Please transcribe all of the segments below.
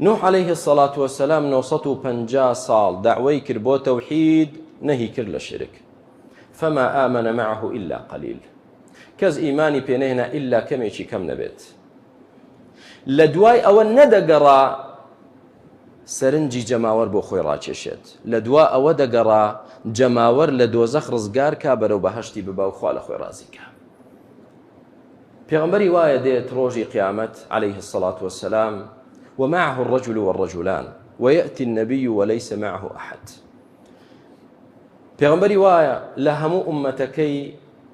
نوح عليه الصلاة والسلام 950 ساڵ داوای کرد بۆ تەوحید نەهی کرد لە شرک فما آمن معه إلا قليل کەس ئیمانی پێنەهێنا ئللا کەمێکی کەم نەبێت لە دوای ئەوە نەدەگەڕا سەرنجی جەماوەر بۆ خۆی ڕاکێشێت لە دوا ئەوە دەگەڕا جەماوەر لە دۆزەخ ڕزگار کا بەرەو بەهشتی ببا و خوا لە خۆی ڕازیکە پێغەمبەری وایە دێت ڕۆژی قیامەت علیه الصلاة والسلام ومعه الرجل والرجلان ويأتي النبي وليس معه أحد پێغمبەری وایە لە هەموو ئومەتەکەی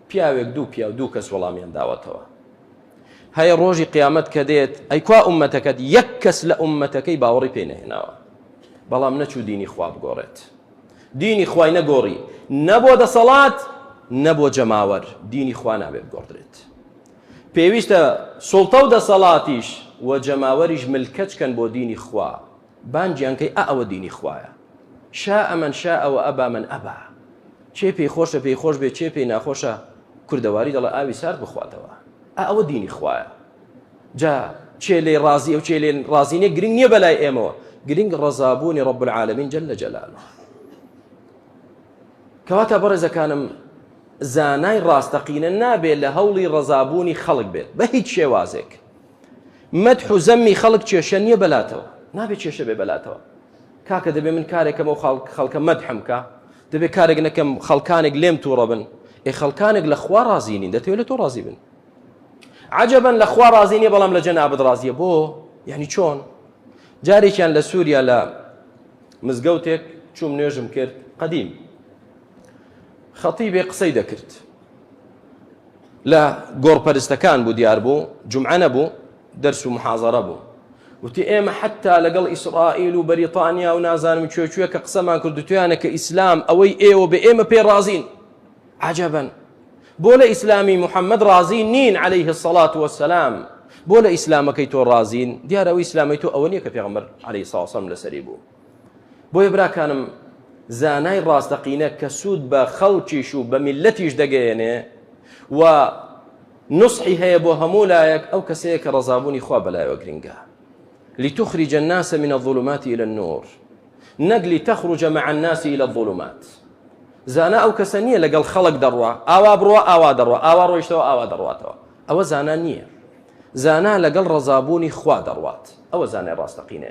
پیاوێک دوو پیاو دوو کەس وەڵامیان داوەتەوە هەیە ڕۆژی قیامەت کە دێت ئەیکوا ئومەتەکەت یەک کەس لە ئومەتەکەی باوەڕی پێنەهێناوە بەڵام نەچوو دینی خواب گۆڕێت دینی خوای نەگۆڕی نە بۆ دەسەڵات نە بۆ جەماوەر دینی خوا نابێ بگۆڕدرێت پێویستە سوڵتە و دەسەڵاتیش و جەماوەریش ملکەچ کەن بۆ دینی خوا بانگیان کەی ئا ئەوە دینی خوایە شا ئەمەن شا ئەوە ئەبا من ئەبا چێ پێی خۆشە پێی خۆش بێ چێ پێی ناخۆشە کوردەواری دەڵێ ئاوی سارد بخواتەوە ئا ئەوە دینی خوایە جا کێ لێی ڕازیە و کێ لێ ڕازی نیە گرنگ نیە بەلای ئێمەوە گرنگ ڕەزابوونی ڕب العالمین جل لە جەلال کەواتە بەڕێزەکانم زانای ڕاستەقینە نابێت لە هەوڵی ڕەزابوونی خەڵک بێت بە هیچ شێوازێک مەد حوزەمی خەڵک کێشە نییە بەلاتەوە نابێت کێشە بێ بەلاتەوە کاکە دەبێ من کارێکەکەم و خەڵکە مەدحمکە دەبێت کارێک نەکەم خەڵکانێک لێم تووڕە بن ئێ خەڵکانێک لە خوا ڕازیین دەتێت لە تۆ ڕازی بن عجبا لە خوا ڕازی نیە بەڵام لە جەنابت ڕازیە بۆ یعنی چۆن جارێکیان لە سووریا لە مزگەوتێک چوم نوێژم کرد قدیم خەتی بێ قسەی دەکرد لە گۆڕپەرستەکان بوو دیار بوو جمعانە بوو دەرس و محازرە بوو وتی ئێمە حتا لەگەڵ ئیسرائیل و بەریتانیا و نازانم کوێکوێ کە قسەمان کرد تویانە کە ئیسلام ئەوەی ئێوە بە ئێمە پێ ڕازین عجبا بۆ لە ئیسلامی محمد ڕازی نین عليه الصلاة والسلام بۆ لە ئیسلامەکەی تۆ ڕازین دیارەوە ئیسلامی تۆ ئەوە نیە کە پێغمبەر عليه ساسم لەسەری بوو بۆیە براکانم زانای ڕاستەقینە کە سوود بە خەڵکیش و بە میلەتیش دەگەیەنێ و نصحی هەیە بۆ هەموو لایەک ئەو کەسەیە کە ڕزابوونی خوا بەلایەوە گرنگە لتخرج الناس من الظلمات إلى النور نەک لتخرج مع الناس الی الظلمات زانا ئەو کەسە نییە لەگەڵ خەڵک دەڕوا ئاوا بڕوا ئاوا دەڕوا ئاوا ڕۆیشتەوە ئاوا دەڕواتەوە ئەوە زانا نییە زانا لەگەڵ ڕەزابوونی خوا دەڕوات ئەوە زانای ڕاستەقینەیە